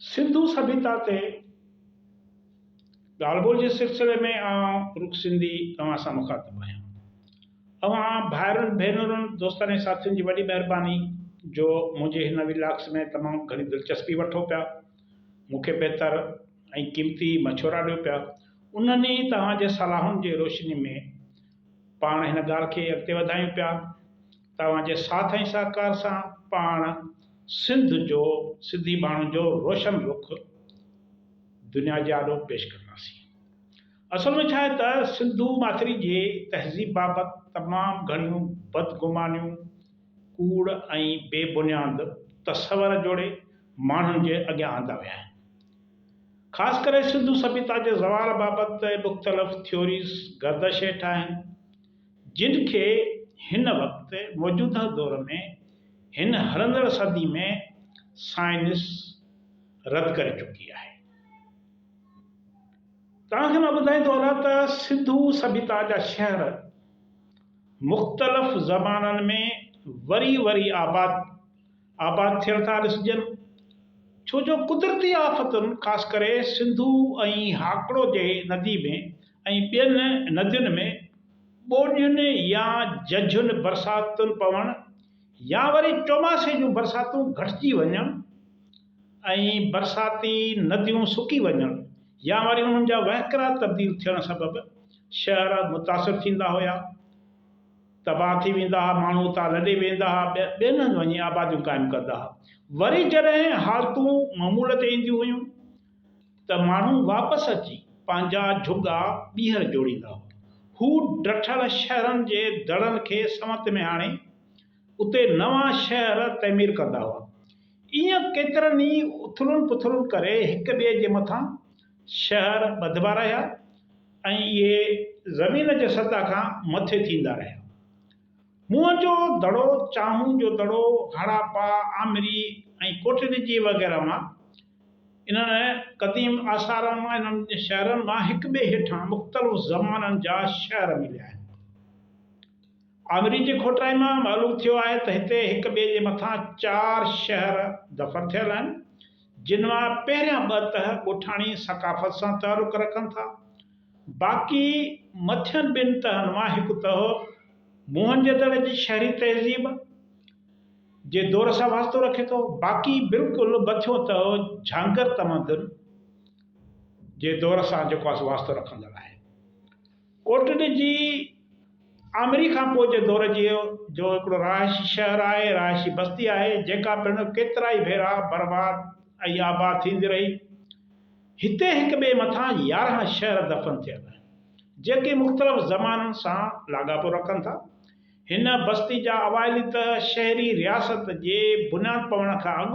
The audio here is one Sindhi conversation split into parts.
سنڌو سڀيتا تي ڳالهه ٻولهه جي سلسلي ۾ آئون رڳ سنڌي اوهان سان مخاطب آهيان. اوهان ڀائرن ڀينرن دوستن ۽ ساٿين جي وڏي مهرباني جو منهنجي هن وي لاگس ۾ تمام گهڻي دلچسپي وٺو پيا، مون کي بهتر ۽ قيمتي مشورا ڏيو پيا، انهن ئي توهان جي صلاحن جي روشني ۾ پاڻ هن ڳالهه کي اڳتي وڌايون پيا. توهان جي ساٿ ۽ سهڪار سان پاڻ سنڌ جو سنڌي ماڻهن جو روشن رخ دنيا جي آڏو پيش ڪنداسين. اصل ۾ ڇا آهي ته سنڌو ماٿري جي تهذيب بابت تمام گهڻيون بدگمانيون، ڪوڙ ۽ بي بنياد تصور جوڙي ماڻهن جي اڳيان آندا ويا آهن. خاص ڪري سنڌو سڀيتا جي زوال بابت مختلف ٿيوريز گردش هيٺ آهن. جن کي هن وقت موجوده دور ۾ هن هلندڙ صدي ۾ سائنس رد ڪري چڪي آهي. توهان کي مان ٻڌائين ٿو هلان ته سنڌو سڀيتا جا شهر مختلف زمانن ۾ وري وري آباد آباد ٿيل ٿا ڏسجن ڇو جو قدرتي آفتن خاص ڪري سنڌو ۽ هاڪڙو جي ندي ۾ ۽ ٻين ندين ۾ ٻوڏين يا ججهين برساتن پوڻ يا وري چوماسي جون برساتون گهٽجي وڃڻ ۽ برساتي نديون سڪي وڃڻ يا وري انهن جا وهڪرا تبديل ٿيڻ سبب شهر متاثر ٿيندا هيا، تباهه ٿي ويندا ها، ماڻهو اتان لڏي ويندا ها، ٻين هنڌ وڃي آباديون قائم ڪندا ها. وري جڏهن حالتون معمول تي اينديون هيون ته ماڻهو واپس اچي پنهنجا جهڳا ٻيهر جوڙيندا. هو ڊٺل شهرن جي دڙن کي سنوت ۾ آڻي اتي نوان شهر تعمير ڪندا هئا. ايئن ڪيترن ئي اٿلن پٿلن ڪري هڪ ٻئي جي مٿان شهر ٻڌبا رهيا ۽ اهي زمين جي سطح کان مٿي ٿيندا رهيا. موهن جو دڙو، چانهون جو دڙو، هڙاپا، آمري ۽ ڪوٽڏجي وغيره مان انهن قديم آثارن مان انهن شهرن مان هڪ ٻئي هيٺان مختلف زمانن جا شهر مليا آهن. آڱرين جي کوٽرائي مان معلوم ٿيو آهي ته هتي هڪ ٻئي جي مٿان چار شهر دفن ٿيل آهن، جن مان پهريان ٻه ته ڳوٺاڻي ثقافت سان تعلق رکن ٿا، باقي مٿين ٻن تهن مان هڪ تهه موهن جدڙ جي شهري تهذيب، جي دور سان واسطو رکي ٿو، باقي بلڪل مٿيون ته جهانگر تمدن جي دور سان جيڪو آهي سو واسطو رکندڙ آهي. ڪوٽڏ جي آمري کان پوء جي دور جي جو هڪڙو رهائشي شهر آهي، رهائشي بستي آهي، جيڪا پڻ ڪيترائي ڀيرا برباد ۽ آباد ٿيندي رهي. هتي هڪ ٻئي مٿان يارهن شهر دفن ٿيل آهن، جيڪي مختلف زمانن سان لاڳاپو رکن ٿا. هن بستي جا اوائلي ته شهري رياست جي بنياد پوڻ کان اڳ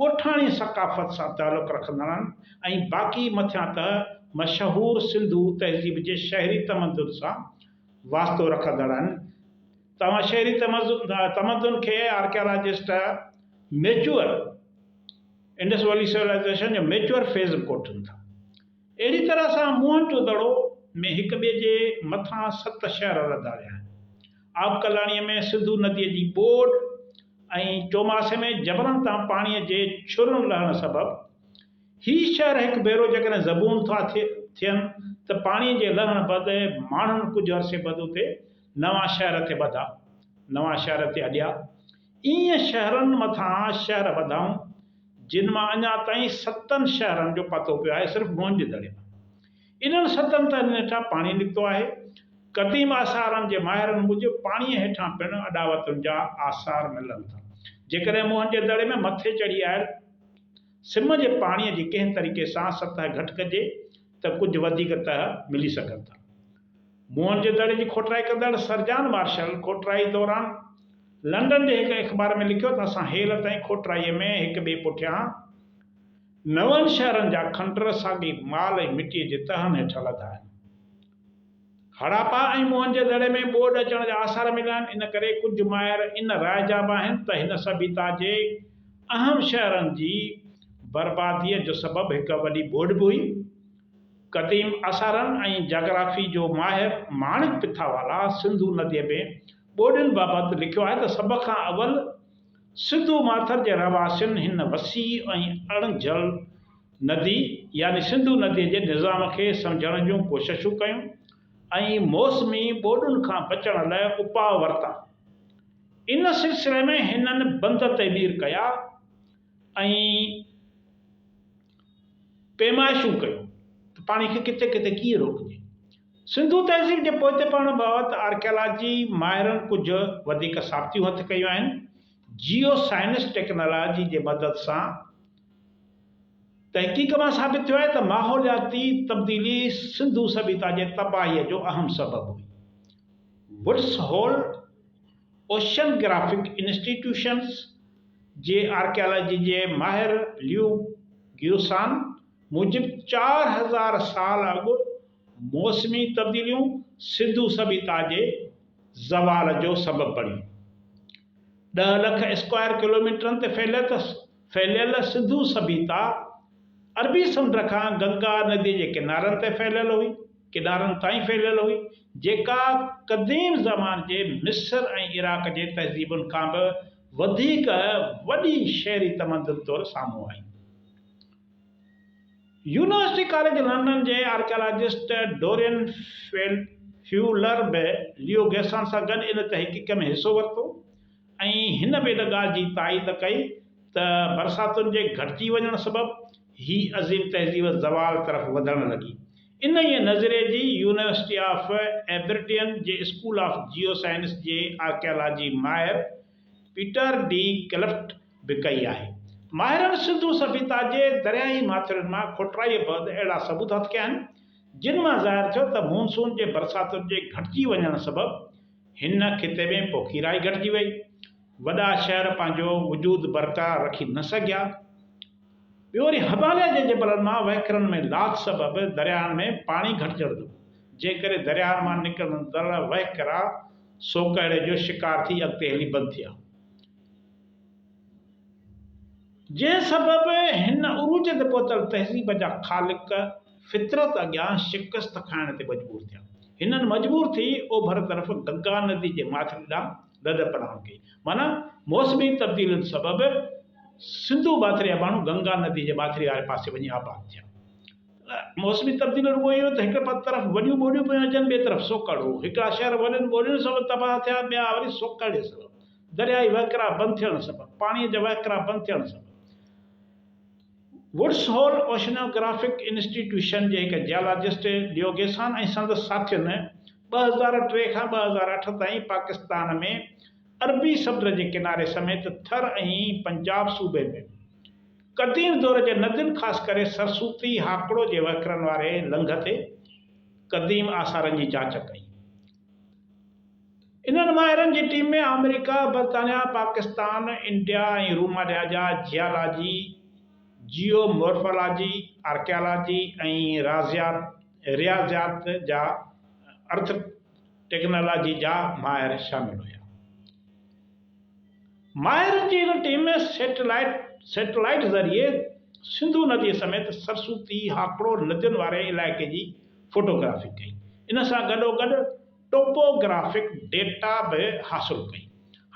ڳوٺاڻي ثقافت سان تعلق رکندڙن ۽ باقي مٿيان ته مشهور سنڌو تهذيب جي شهري تمدن سان واسطو رکندڙن توهان شهري تمدن کي archaeologist mature Indus Valley civilisation جو ميچوئر فيز به ڪوٺين ٿا. اهڙي طرح سان موهن جو دڙو ۾ هڪ ٻئي جي مٿان ست شهر رڌا ويا آهن. آب ڪلاڻيء ۾ سنڌو نديء جي ٻوڏ ۽ چوماسي ۾ جبلن تان پاڻيء جي ڇرن لهڻ سبب هي شهر هڪ ڀيرو جيڪڏهن زبون ٿا ٿين ته پاڻيء جي لهڻ بعد ماڻهن ڪجهه عرصي بعد اتي نوان شهر تي ٻڌا نوان شهر تي اڏيا. ائين شهرن مٿان شهر وڌائون، جن مان اڃا تائين ستن شهرن جو پتو پيو آهي، صرف مون جي دڙي مان انهن ستن تهن هيٺان پاڻي نڪتو آهي. قديم آثارن جي ماهرن موجب پاڻيء هيٺان پڻ اڏاوتن جا آثار ملن ٿا. جيڪڏهن مون جي دڙي ۾ مٿي چڙهي آيل سم جي پاڻيء جي ڪنهن طريقي سان سطح گهٽ ڪجي ته ڪجهه وڌيڪ تهه ملي سگهن ٿا. موهن جي دڙي جي کوٽرائي ڪندڙ سر جان مارشل کوٽرائي دوران لنڊن جي هڪ اخبار ۾ لکيو ته اسان هيل تائين کوٽرائي ۾ هڪ ٻئي پٺيان نون شهرن جا کنڊر ساڳئي مال ۽ مٽيء جي تهن هيٺ لڌا آهن. هڙاپا ۽ موهن جي دڙي ۾ ٻوڏ اچڻ جا آثار مليا آهن ان ڪري ڪجهه ماهر ان راء جا به آهن ته هن سڀيتا جي اهم شهرن جي برباديء جو سبب هڪ وڏي ٻوڏ به هئي. قديم اثارن ۽ جاگرافي جو ماهر ماڻڪ پٿاوالا سنڌو نديء ۾ ٻوڏين بابت لکيو آهي ته سڀ کان اول سنڌو ماٿر جي رهواسين هن وسيع ۽ اڻگهجل ندي يعني سنڌو نديء جي نظام کي سمجهڻ جون ڪوششون ڪيون ۽ موسمي ٻوڏن کان بچڻ لاء اپاء ورتا. ان سلسلي ۾ هنن بند تعمير ڪيا ۽ پيمائشون ڪيون ته پاڻي کي ڪٿي ڪٿي ڪيئن روڪجي. سنڌو تهذيب جي پوئتي پڙهڻ بابت آرڪيالاجي ماهرن ڪجهه وڌيڪ ثابتيون هٿ ڪيون آهن. جيو سائنس ٽيڪنالاجي جي مدد سان تحقيق مان ثابت ٿيو آهي ته ماحولياتي تبديلي سنڌو سڀيتا جي تباهيء جو اهم سبب هئي. Woods Hole, oceanographic institutions جي آرڪيالاجي جي ماهر ليو گيوسان موجب چار هزار سال اڳ موسمي تبديليون سنڌو سڀيتا جي زوال جو سبب بڻيون. ڏهه لک اسڪوائر ڪلوميٽرن تي ڦهليل ڦهليل سنڌو سڀيتا عربي سمنڊ کان گنگا نديء جي ڪنارن تي ڦهليل هئي، ڪنارن تائين ڦهليل هئي، جيڪا قديم زمان جي مصر ۽ عراق جي تهذيبن کان به وڌيڪ وڏي شهري تمدن طور سامهون آئي. يونيورسٽي ڪاليج لنڊن جي آرڪيالاجسٽ ڊورين فيولر به ليو گيسان سان گڏ ان تحقيق ۾ حصو ورتو. ۽ هن به ان ڳالهه جي تائيد ڪئي ته برساتن جي گهٽجي وڃڻ سبب هي عظيم تهذيب زوال طرف وڌڻ لڳي. انهيء نظريي جي يونيورسٽي آف ايبرڊين جي اسڪول آف جيو سائنس جي آرڪيالاجي ماهر پيٽر ڊي ڪلفٽ به ڪئي آهي. ماهرن سنڌو سڀيتا جي درياهي ماٿرين مان کوٽرائيء بعد اهڙا ثبوت هٿ ڪيا آهن، جن مان ظاهر ٿيو ته مون سون جي برساتن جي گهٽجي وڃڻ سبب، هن خطي ۾ پوکي رائي گهٽجي وئي. وڏا شهر پنهنجو وجود برقرار رکي نه سگهيا. ٻيو وري هماليه جي جبلن مان وهڪرن ۾ لاٿ سبب درياهن ۾ پاڻي گهٽجڻ جو جنهن ڪري درياهن مان نڪرندڙ وهڪرا سوڪهڙي جو شڪار ٿي اڳتي هلي بند ٿيا. جنهن سبب هن عروج تي پهتل تهذيب جا خالق فطرت اڳيان شڪست کائڻ تي مجبور ٿيا. هنن مجبور ٿي اوڀر طرف گنگا ندي جي ماٿري ڏانهن لڏ پلاڻ ڪئي. معنيٰ موسمي تبديلين سبب سنڌو ماٿري جا ماڻهو گنگا ندي جي ماٿري واري پاسي وڃي آباد ٿيا. موسمي تبديلين رڳو اهو ته هڪ طرف وڏيون ٻوليون پيون اچن ٻئي طرف سوڪهڙ هو. هڪڙا شهر وڏين ٻولين سبب تباهه ٿيا ٻيا وري سوڪهڙي سبب. درياهي وهڪرا بند ٿيڻ سبب پاڻي جا وهڪرا بند ٿيڻ سبب ووڊس هول اوشنوگرافڪ انسٽيٽيوشن جي هڪ جيالاجسٽ ڊيوگيسان ۽ سندس ساٿين ٻه هزار ٽي کان ٻه هزار اٺ تائين پاڪستان ۾ عربي سمنڊ جي ڪناري سميت ٿر ۽ پنجاب صوبي ۾ قديم دور جي ندين خاص ڪري سرسوتي هاڪڙو جي وهڪرن واري لنگهه تي قديم آثارن جي جاچ ڪئي انهن ماهرن جي ٽيم ۾ آمريڪا، برطانيا، پاڪستان، انڊيا ۽ رومانيا جا جيالاجي، جيو مورفالاجي، آرڪيالاجي ۽ رياضيات جا ارٿ ٽيڪنالاجي جا ماهر شامل هيا. ماهرن جي ان ٽيم ۾ سيٽلائيٽ ذريعي سنڌو ندي سميت سرسوتي هاڪڙو ندين واري علائقي جي فوٽوگرافي ڪئي. ان سان گڏوگڏ ٽوپوگرافڪ ڊيٽا به حاصل ڪئي.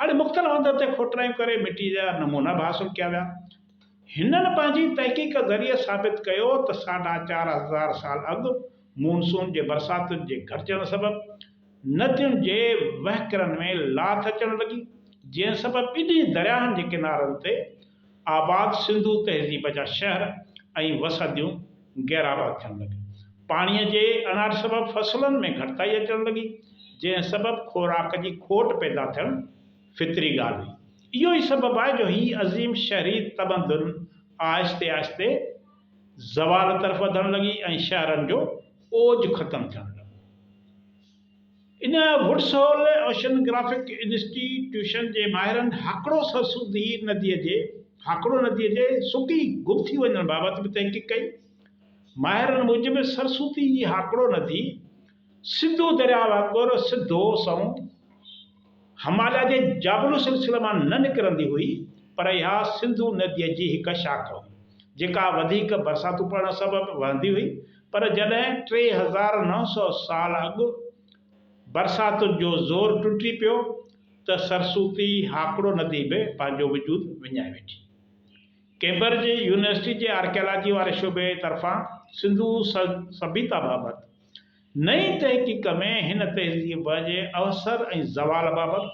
هاڻي مختلف هنڌن تي کوٽرائيون ڪري مٽيء جا نمونا به حاصل ڪيا ويا. هنن پنهنجي تحقيق ذريعي ثابت ڪيو ته ساڍا چار هزار سال اڳ مون سون جي برساتن جي گهٽجڻ سبب ندين جي وهڪرن ۾ لاٿ اچڻ لڳي، جنهن سبب ٻنهي درياهن جي ڪنارن تي آباد سنڌو تهذيب جا شهر ۽ وسنديون غيرآباد ٿيڻ لڳيون. پاڻيء جي اڻاٺ سبب فصلن ۾ گهٽتائي اچڻ لڳي، جنهن سبب خوراڪ جي کوٽ پيدا ٿيڻ فطري ڳالهه هئي. اهو ئي سبب آهي جو هي عظيم شهري تمدن آهستي آهستي زوال طرف وڌڻ لڳي ۽ شهرن جو اوج ختم ٿيڻ لڳو. ان ووڊسول اوشنگرافڪ انسٽي ٽيوشن جي ماهرن هاڪڙو سرسبزي ندي جي هاڪڙو ندي جي سڪي گم ٿي وڃڻ بابت به تحقيق ڪئي. ماهرن موجب سرسبزي جي هاڪڙو ندي سنڌو درياء وانگر سڌو سنئون هماليه جي جابلو سلسلي مان نه نڪرندي هئي، پر اها سنڌو نديء جي هڪ شاخ هئي، جيڪا وڌيڪ برساتون پوڻ سبب وهندي هئي، پر جڏهن ٽي هزار نو سؤ سال اڳ برساتن جو زور ٽٽي پيو ته سرسوتي هاڪڙو ندي به پنهنجو وجود وڃائي ويٺي. ڪئمبرج يونيورسٽي جي آرڪيالاجي واري شعبي طرفان سنڌو سڀيتا بابت نئين تحقيق ۾ هن تهذيب جي اوسر ۽ زوال بابت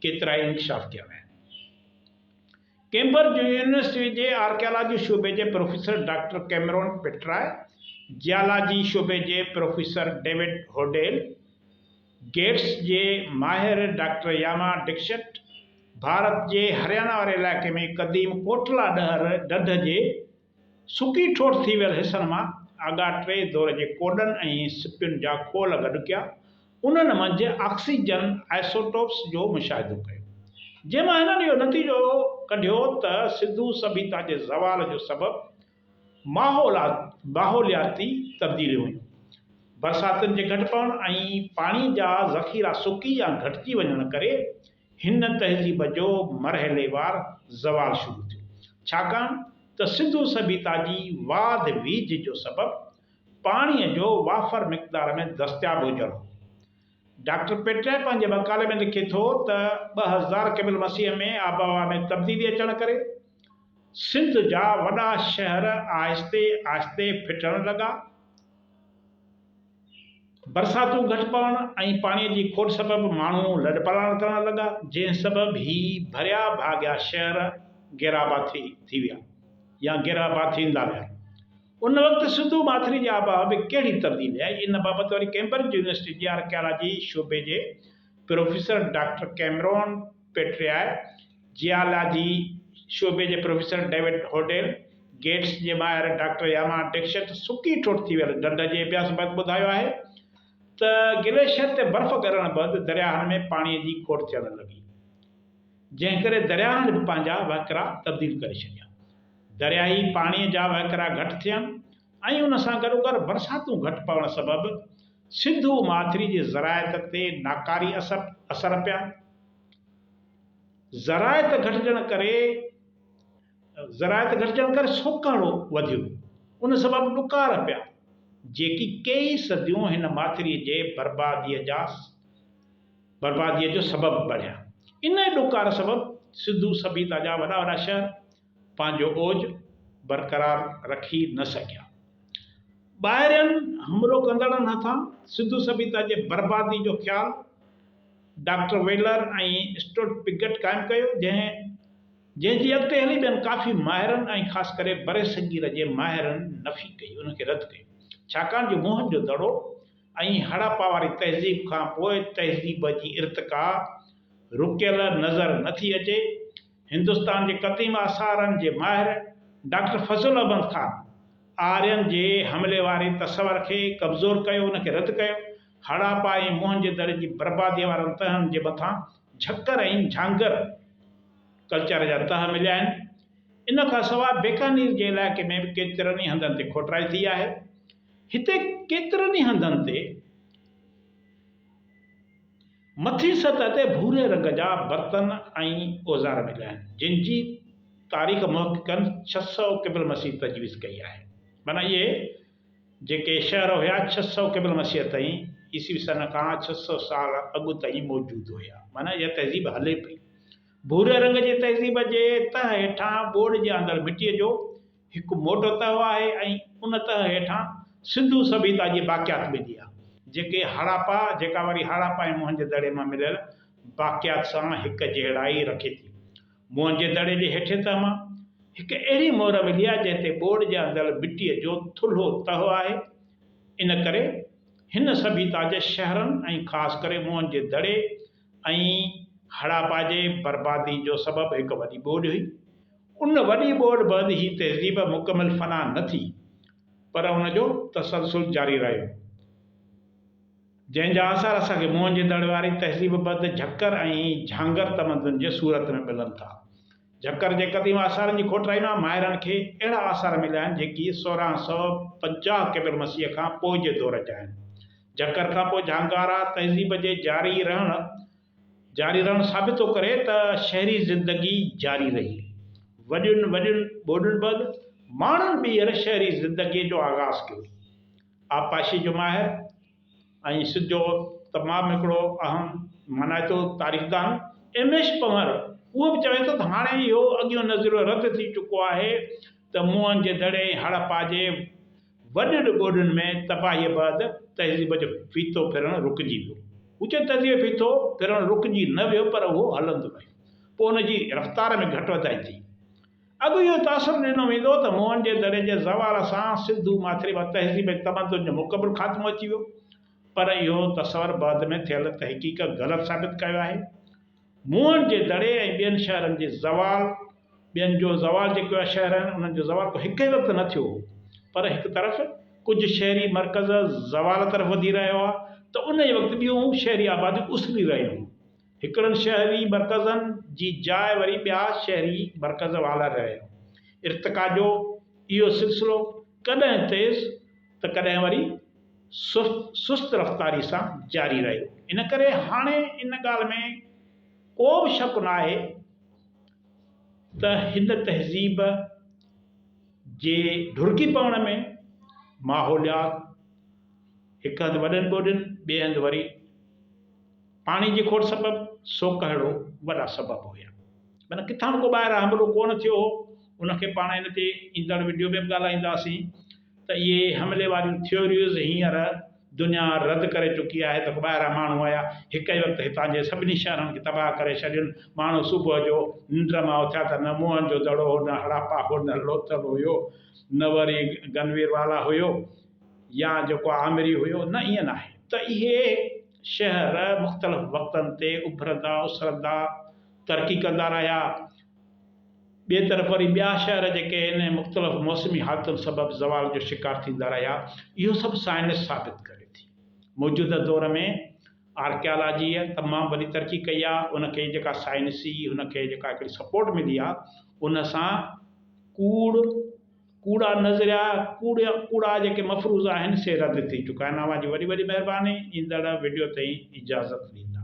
ڪيترائي انڪشاف ڪيا ويا آهن. ڪيمبرج يونيورسٽيء جي آرڪيالاجي شعبي جي professor doctor Cameron Petrie, geology شعبي جي پروفيسر ڊيوڊ هوڊيل، گيٽس جي ماهر ڊاڪٽر ياما ڊڪشٽ، ڀارت جي هريانا واري علائقي ۾ قديم ڪوٽلا ڏهر ڍڍ جي سڪي ٺوٺ ٿي ويل حصن مان آگا ٽي دور جي ڪوڏن ۽ سپين جا خول گڏ ڪيا، انهن منجهه آڪسيجن آئسوٽوپس جو مشاهدو ڪيو، جنهن مان هنن اهو نتيجو ڪڍيو ته سنڌو سڀيتا جي زوال جو سبب ماحولياتي تبديليون هيون. برساتن جي گهٽ پوڻ ۽ پاڻي جا ذخيرا سڪي يا گهٽجي وڃڻ ڪري هن تهذيب جو مرحليوار زوال شروع ٿيو، ڇاڪاڻ ته سنڌو سڀيتا جي واڌ ويجهه جو سبب پاڻيء جو وافر مقدار ۾ دستياب هجڻ هو. ڊاڪٽر پيٽرئي پنهنجي مقالي ۾ لکي ٿو ته ٻه هزار قبل مسيح ۾ آبهوا ۾ تبديلي اچڻ ڪري سنڌ جا وڏا شهر آهستي آهستي ڦٽڻ لڳا. برساتون گهٽ پوڻ ۽ پاڻي جي کوٽ سبب ماڻهو لڏپلاڻ ڪرڻ لڳا، جنهن سبب هي ڀريا ڀاڳيا شهر گيراباٿي ٿي ويا يا گيراباٿيندا ويا. ان وقت سنڌو ماٿري جي آبهوا ۾ ڪهڙي تبديلي آئي، ان بابت وري ڪئمبرج يونيورسٽي جي آرڪيالاجي شعبي جي professor doctor Cameron Petrie, geology شعبي جي پروفيسر ڊيوڊ هوڊيل، گيٽس جي ماهر ڊاڪٽر ياما ڊڪشٽ سڪي ٺوٺ ٿي ويل ڍنڍ جي اڀياس بعد ٻڌايو آهي ته گليشيئر تي برف ڳرڻ بعد درياهن ۾ پاڻي جي کوٽ ٿيڻ لڳي جنهن ڪري درياهن به پنهنجا وهڪرا تبديل ڪري ڇڏيا. درياهي پاڻي جا وهڪرا گهٽ ٿين ۽ ان سان گڏوگڏ برساتون گهٽ پوڻ سبب سنڌو ماٿري جي زراعت تي ناڪاري اثر پيا. زراعت گهٽجڻ ڪري زراعت گهٽجڻ ڪري سوڪهڙو وڌيو، ان سبب ڏڪار پيا، جيڪي ڪيئي صديون هن ماٿري جي برباديء جا برباديء جو سبب بڻيا. انهيء ڏڪار سبب سنڌو سڀيتا جا وڏا وڏا شهر، پنهنجو اوج برقرار رکي نه سگهيا. ٻاهرين حملو ڪندڙن هٿان سنڌو سڀيتا جي بربادي جو خيال ڊاڪٽر ويلر ۽ اسٽوٽ پگٽ قائم ڪيو، جنهن جنهن جي اڳتي هلي ٻين ڪافي ماهرن ۽ خاص ڪري برصغير جي ماهرن نفي ڪئي، ان کي رد ڪيو، ڇاڪاڻ جو موهن جو دڙو ۽ هڙاپا واري تهذيب کان پوء تهذيب جي ارتقا رڪيل نظر نه ٿي اچي، هندستان جي قديم آثارن جي ماهر ڊاڪٽر فضل احمد خان آرين جي حملي واري تصور کي ڪمزور ڪيو، ان کي رد ڪيو. هڙاپا ۽ موهنجي دڙي جي برباديء وارن تهن جي مٿان جهڪر ۽ جهانگر ڪلچر جا تهه مليا آهن. ان کان سواء بيڪانير جي علائقي ۾ به ڪيترن ئي هنڌن تي کوٽرائي ٿي آهي. هتي ڪيترن ئي هنڌن تي. مٿين سطح تي ڀوري رنگ جا برتن ۽ اوزار مليا آهن، جن جي تاريخ محققن ڇهه سؤ قبل مسيح تجويز ڪئي آهي. معنيٰ اهي جيڪي شهر هيا ڇهه سؤ قبل مسيح تائين، عيسوي سن کان ڇهه سؤ سال اڳ تائين موجود هيا. معنيٰ اها تهذيب هلي پئي. ڀوري رنگ جي تهذيب جي تهه هيٺان ٻوڙ جي آندڙ مٽيء جو هڪ موٽو تهه آهي ۽ ان تهه هيٺان سنڌو سڀيتا جي باقيات ملي آهي، جيڪي هڙاپا جيڪا وري هڙاپا ۽ موهن جي دڙي مان مليل باقيات سان هڪجهڙائي رکي ٿي. موهن جي دڙي جي هيٺين تهه مان هڪ اهڙي مهر ملي آهي جنهن تي ٻوڏ جي اندڙ مٽيء جو ٿلهو تهه آهي، ان ڪري هن سڀيتا جي شهرن ۽ خاص ڪري موهن جي دڙي، ۽ هڙاپا جي بربادي جو سبب هڪ وڏي ٻوڏ هئي. ان وڏي ٻوڏ بعد هي تهذيب مڪمل فنا نه ٿي، پر ان جو تسلسل جاري رهيو، جنهن جا آثار اسان کي موهن جي دڙي واري تهذيب بعد جهڪر ۽ جهانگر تمدن جي صورت ۾ ملن ٿا. جھڪر جي قديم آثارن جي کوٽرائي مان ماهرن کي اهڙا آثار مليا آهن جيڪي سورهن سؤ پنجاهه قبل مسيح کان پوء جي دور جا آهن. جھڪر کان پوء جھانگارا تهذيب جي جاري رهڻ جاري رهڻ ثابت ٿو ڪري ته شهري زندگي جاري رهي. وڏين وڏين ٻوڏن بعد ماڻهن ٻيهر شهري زندگيء جو آغاز ڪيو. آبپاشيء جو ماهر، ۽ سنڌ جو تمام هڪڙو اهم مانائتو تاريخدان ايم ايش پنهور اهو به چوي ٿو ته هاڻي اهو اڳيون نظريو رد ٿي چڪو آهي ته موهن جي دڙي ۽ هڙپا جي وڏن ٻوڏن ۾ تباهيء بعد تهذيب جو ڦيٿو ڦرڻ رڪجي ويو. هو چوي ٿو تهذيب جو ڦيٿو ڦرڻ رڪجي نه ويو پر اهو هلندو رهيو. پوء ان جي رفتار ۾ گهٽ وڌائي ٿي. اڳ اهو تاثر ڏنو ويندو ته موهن جي دڙي جي زوال سان سنڌو ماٿريما تهذيب ۽ تمدن جو مڪمل خاتمو اچي ويو پر اهو تصور بعد ۾ ٿيل تحقيق غلط ثابت ڪيو آهي. موهن جي دڙي ۽ ٻين شهرن جي زوال ٻين جو زوال جيڪي اهي شهر آهن انهن جو زوال ڪو هڪ هنڌ ته نه ٿيو هو پر هڪ طرف ڪجهه شهري مرڪز زوال طرف وڌي رهيا هئا ته انهي وقت ٻيون شهري آباديون اسري رهيون هيون هڪڙن شهري مرڪزن جي جاء وري ٻيا شهري مرڪز والاري رهيا. ارتقا جو اهو سلسلو ڪڏهن تيز ته ڪڏهن وري سست رفتاري سان جاري رهيو. ان ڪري هاڻي ان ڳالهه ۾ ڪو به شڪ ناهي ته هن تهذيب جي ڍرڪي پوڻ ۾ ماحوليات هڪ هنڌ وڏن ٻوڏين ٻئي هنڌ وري پاڻي جي کوٽ سبب سوڪهڙو وڏا سبب هيا معنيٰ ڪٿان به ڪو ٻاهران حملو ڪونه ٿيو هو ان کي پاڻ ان تي ايندڙ وڊيو ۾ به ڳالهائينداسين ته اهي حملي واريون ٿيوريز هينئر دنيا رد ڪري چڪي آهي ته ڪو ٻاهران ماڻهو آيا هڪ ئي وقت هتان جي سڀني شهرن کي تباهه ڪري ڇڏين ماڻهو صبح جو ننڊ مان اٿيا ته نه موهن جو دڙو هو نه هڙاپا هو نه لوٿل هيو نه وري گنويروالا هيو يا جيڪو آمري هيو نه ائين ناهي ته اهي شهر مختلف وقتن تي اڀرندا اسرندا ترقي ڪندا رهيا. ٻئي طرف وري ٻيا شهر جيڪي هن مختلف موسمي حالتن سبب زوال جو شڪار ٿيندا رهيا. اهو سڀ سائنس ثابت ڪري ٿي. موجوده دور ۾ آرڪيالاجيء تمام وڏي ترقي ڪئي آهي. ان کي جيڪا سائنسي هن کي جيڪا هڪڙي سپورٽ ملي آهي ان سان ڪوڙ، ڪوڙا نظريا، ڪوڙا ڪوڙا جيڪي مفروضا آهن سي رد ٿي چڪا آهن اوهان جي وڏي وڏي مهرباني ايندڙ وڊيو تائين اجازت ڏيندا.